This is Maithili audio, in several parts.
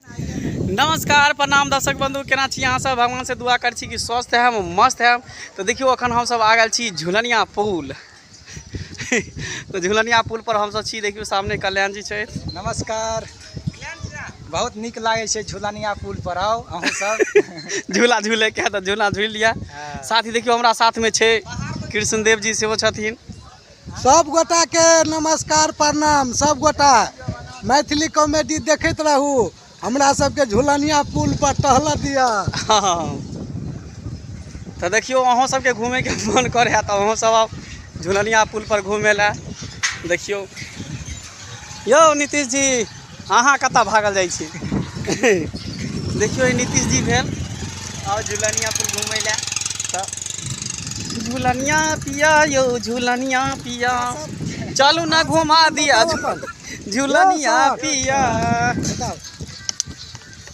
नमस्कार प्रणाम दर्शक बंधु केना छी अहाँ सब भगवान से दुआ कर छी कि स्वस्थ है मस्त है तो देखियो अखन हम सब आ गए छी झुलनिया पुल तो झुलनिया पुल पर हम सब छी देखियो सामने कल्याण जी छे नमस्कार बहुत निक लागे छे झुलनिया पुल पर आओ अहू सब झूला झूले के तो झूला झूल लिया हाँ। साथ ही देखियो हमरा साथ में छे कृष्ण देव जी से वो छथिन सब गोटा के नमस्कार प्रणाम सब गोटा मैथिली कॉमेडी देखैत रहू हमरा सबके झुलनिया पुल पर टहल दिअ तऽ देखियौ अहूँ सबके घूमैके मन करे है तऽ अहूँ सब आउ झुलनिया पुल पर घूमे लए देखियौ यौ नीतीश जी अहाँ कतऽ भागल जाइ छी देखियौ ई नीतीश जी भेल आउ झुलनिया पर घूमय लए तऽ झुलनिया पिया यौ झुलनिया पिया चलू ने घुमा दिया झुलनिया पिया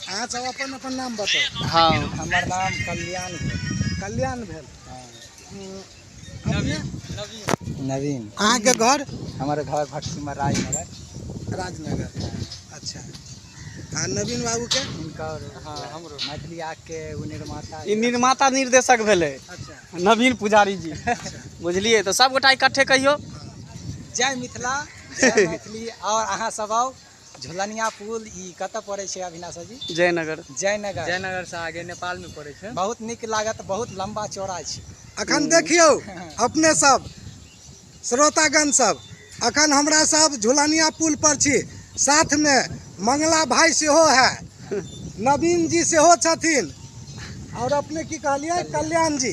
अहाँ सब अपन अपन नाम बताउ हँ हमर नाम कल्याण भेल कल्याण भेल नवीन अहाँ के घर हमारे घर भटसिमा राजनगर राजनगर अच्छा आ नवीन बाबू के इनकर हाँ हमरो मैथिली आग के ओ निर्माता ई निर्माता निर्देशक भेलै अच्छा नवीन पुजारी जी अच्छा बुझलियै तऽ सभगोटा इकट्ठे कहियौ जय मिथिला जय मैथिली और अहाँ सब आउ झुलनिया पुल ई कतऽ पड़ै छै अभिलाषा जी जयनगर जयनगर जयनगर से आगे नेपाल में पड़े छै बहुत नीक लागत बहुत लंबा चौड़ा छै अखन देखियौ अपने सब श्रोतागण सब अखन हमरा सब झुलनिया पुल पर छी साथ में मंगला भाई सेहो है नवीन जी सेहो छथिन और अपने की कहलिए कल्याण जी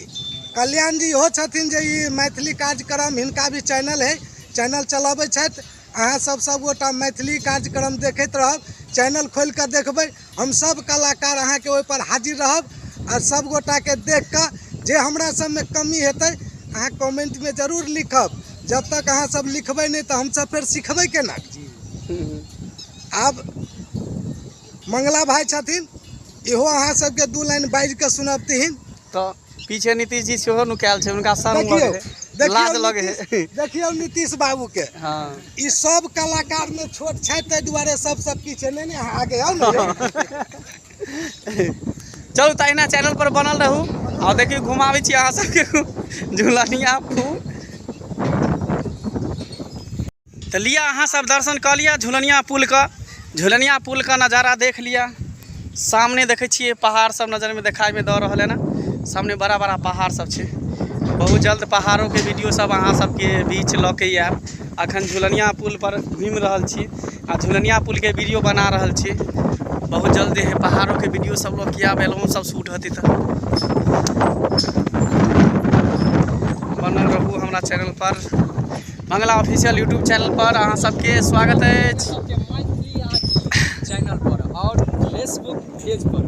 कल्याण जी इहो छथिन जे ई मैथिली कार्यक्रम हिनका भी चैनल है चैनल चलाबै छथि अहाँ सब सब गोटा मैथिली कार्यक्रम देखैत रहब चैनल खोल के देखबै हम सब कलाकार अहाँ के ओहि पर हाजिर रहब आ सब गोटा के देख के जे हमरा सब में कमी हेतै अहाँ कमेंट में जरूर लिखब जब तक अहाँ सब लिखबै नहीं तो हम सब फिर सिखबै केना आब मंगला भाई छथिन इहो अहाँ सब के दू लाइन बाजि के सुनबतिहीन तऽ पीछे नीतीश जी सेहो नुकायल छै हुनका संग लऽ देखियौ गेलै। लाज देखियौ लगे नीतीश- है देखियौ नीतीश बाबू के हाँ ई सब कलाकार में छोट छै ताहि दुआरे सबसे पीछे नहीं नहीं अहाँ आगे आउ ने यौ। चलू तहिना चैनल पर बनल रहू और देखियौ घुमाबै छी अहाँ सबके झूलनिया फूल तऽ लिअ अहाँ सब दर्शन कऽ लिअ झुलनिया पुलके झुलनिया पुलके नजारा देख लिअ सामने देखै छियै पहाड़ सब नजरमे देखाइमे दऽ रहल है ने सामने बड़ा बड़ा पहाड़ सब छै बहुत जल्द पहाड़ोके वीडियो सब अहाँ सबके बीच लऽ के आयब अखन झुलनिया पुल पर घुमि रहल छी आ झुलनिया पुलके वीडियो बना रहल छी बहुत जल्द एहे पहाड़ोके वीडियो सब लऽ के आयब एलहुँ सब शूट हेतै तऽ बनल रहू हमरा चैनल पर बंगला ऑफिशियल यूट्यूब चैनल पर अहाँ सबके स्वागत अछि चैनल पर और फेसबुक पेज पर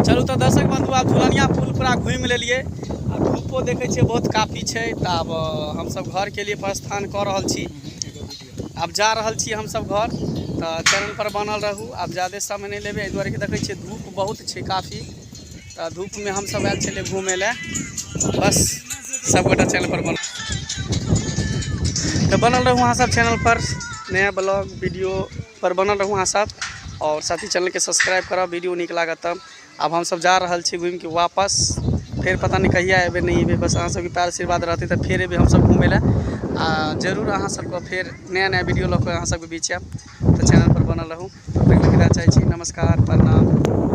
चलू तऽ दर्शक बंधु आब झुलनिया पुल पूरा घूमि लेलियै आ धूपो देखै छियै बहुत काफी छै तऽ आब हमसब घर के लिए प्रस्थान कऽ रहल छी आब जा रहल छी हमसब घर तऽ चैनल पर बनल रहू आब जादे समय नहि लेबै एहि दुआरे कि देखै छियै धूप बहुत छै काफी तऽ धूपमे हमसभ आयल छलियै घूमय लए बस सभगोटा चैनलपर बन तऽ बनल रहू अहाँ सब चैनल पर नया ब्लॉग वीडियो पर बनल रहू अहाँ सब और साथी चैनल के सब्सक्राइब करब वीडियो नीक लागत तब आब हम सब जा रहल छी घूम के वापस फिर पता नहीं कहिया एबे नहीं एबे बस अहाँ सब के प्यार आशीर्वाद रहते तो फिर एबे हम सब घूमे ला आ जरूर अहाँ सब को फिर नया नया वीडियो लऽ के अहाँ सब के बीच आयब तो चैनल पर बनल रहू तब तक के विदा चाहे छी नमस्कार प्रणाम